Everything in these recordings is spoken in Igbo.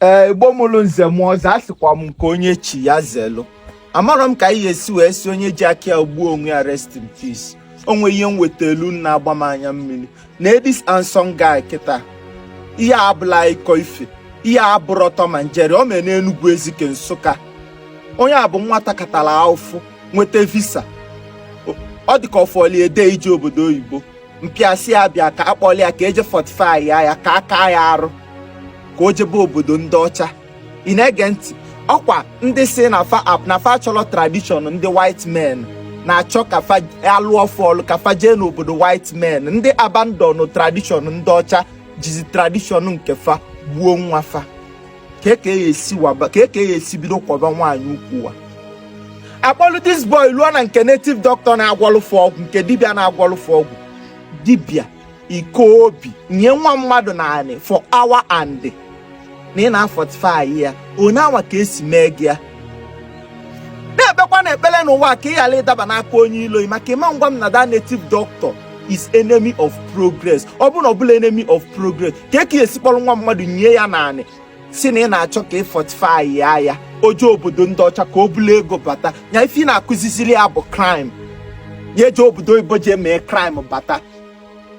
ee igbo mụrụ nze mụọ ọzọ asịkwa m nke onye chi ya zelu amarọ m ka anyị esi wee sị onye ji aka ya gbuo onwe ya rest in peace o nwe ihe m wetalụ na-agba m anya mmiri na this handsome guy kịta ihe abụla ịkọ ife ihe abụrọ tom and jerry o mee n'enugwu ezike nsụka onye a bụ nwata katara ahụfụ nweta visa ọ dịka ọ fọli a day ije obodo oyibo mpa ya sị ya bịa ka a kpọli ya ka e je fortify ya ya ka a kaa ya arụ ka o jebe obodo ndị ọcha ị na-ege ntị ọ kwa ndị sị na fa ap na fa achọrọ tradition ndị white men na-achọ ka fa lụọ fa ọlụ ka fa jee n'obodo white men ndị abandon tradition ndị ọcha jizi tradition nke fa gbuo nwa fa kee ka e si waba kee ka a ya-esi bido kọba nwaanyị ukwu wa akpọlụ this boy luo na nke native doctor na-agwọlụ fa ọgwụ nke dibịa na-agwọlụ fa ọgwụ dibịa ị kaa obi nie nwa mmadụ n'anị for hour and na ị na-afortify ya onye anwa ka e si mee gị ya na-ekpekwanụ ekpere n'ụwa ka ị ghara ịdaba n'aka onye ilo maka ị ma ngwa m na that native doctor is enemy of progress ọ bụrụ na ọ bụla enemy of progress kee ka e si kpọrọ nwa mmadụ nie ya n'anị sị na ị na-achọ ka ị fortify ya ya o je obodo ndị ọcha ka o bulu ego bata ya ife ị na-akụziziri ya bụ crime ya eje obodo oyibo jee mee crime bata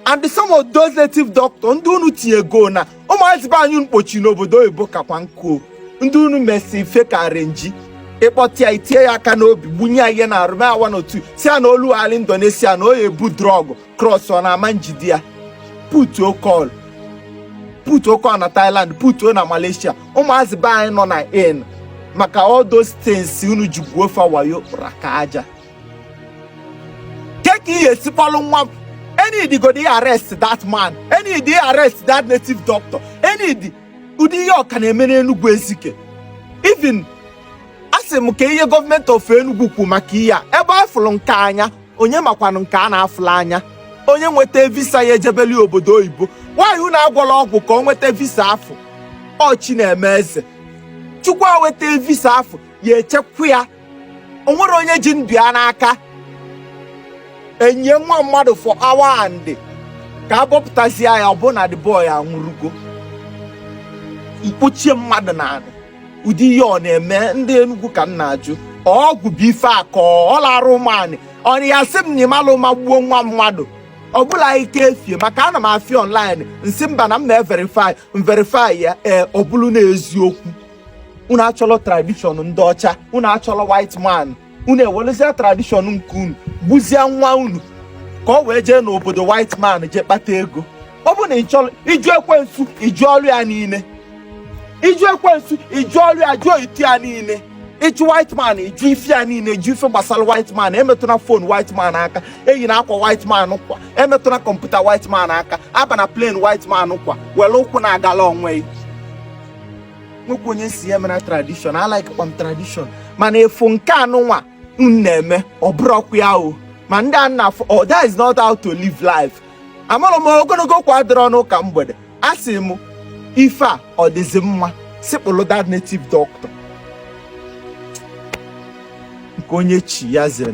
and some of those native doctor ndị unu tinyego na ụmụazị be anyị mkpochi n'obodo oyibo kakwa nkụ ndị unu mesi ife ka renji ị kpọta ya i tinye ya aka n'obi gbunye ya ihe n'arụ awa n'otu sị ya na o luo ala indonesia na ọ ya-ebu drug cross na a ma njide ya put call put call na thailand put na malaysia ụmụazị be anyị nọ na in maka all those things unu ji gwuo fa wayo ra ka aja kee ka ị ga-esi kpọlụ nwa m e need godu ị arrest that man e need ị arrest that native doctor e need ụdị ihe a ọ ka na-eme n'Enugu Ezike even asị m ka ihe government of Enugu kwu maka ihe a ebe a fụrụ nke anya onye makwanụ nke a na-afụla anya onye nweta visa ya ejebeli obodo oyibo why unu agwọla ọgwụ ka o nweta visa afụ ọ chi na-eme eze chukwu a weta visa afụ ya-echekwa ya o nwerọ onye ji ndụ ya n'aka e nie nwa mmadụ for hour and ka a bọpụtazie ya ọ bụrụ na the boy anwụrụgo mkpochie mmadụ n'anị ụdị ihe a ọ na-eme ndị Enugu ka m na-ajụ ọgwụ bụ ife akọ ọ larụ ụmụanị ọnị ya sị m na ịmalụ ụma gbuo nwa mmadụ ọ bụla ike efie maka ana m afụ ya online m sị mba na m na-everify m verify ya ee ọ bụrụ na eziokwu unu achọrọ tradishọn ndị ọcha unu achọrọ white man unu ewelezia tradishọn nke unu gbuzie nwa unu ka o wee jee n'obodo white man jee kpata ego ọ bụ na ị chọrọ ịjụ ekwensu ịjụ ọrụ ya niile ịjụ ekwensu ịjụ ọrụ ya jụọ itu ya niile ịjụ white man ịjụ ife ya niile ịjụ ife gbasara white man emetụna fon white man aka eyina akwa white man kwa emetụna kọmputa white man aka abana plane white man kwa were ụkwụ na-agala onwe gị nwekwa onye si ya mere tradishọn alike kwa m tradishọn mana ife nke a unu nwa na-eme ọ bụrọkwa ya o ma ndị a na oh that is not how to live life amụrụ m ogologo kwa dịrị ọnụ ụka mgbede asị m ife a ọ dịzi mma sị kpụlụ that native doctor nke onye chi ya zere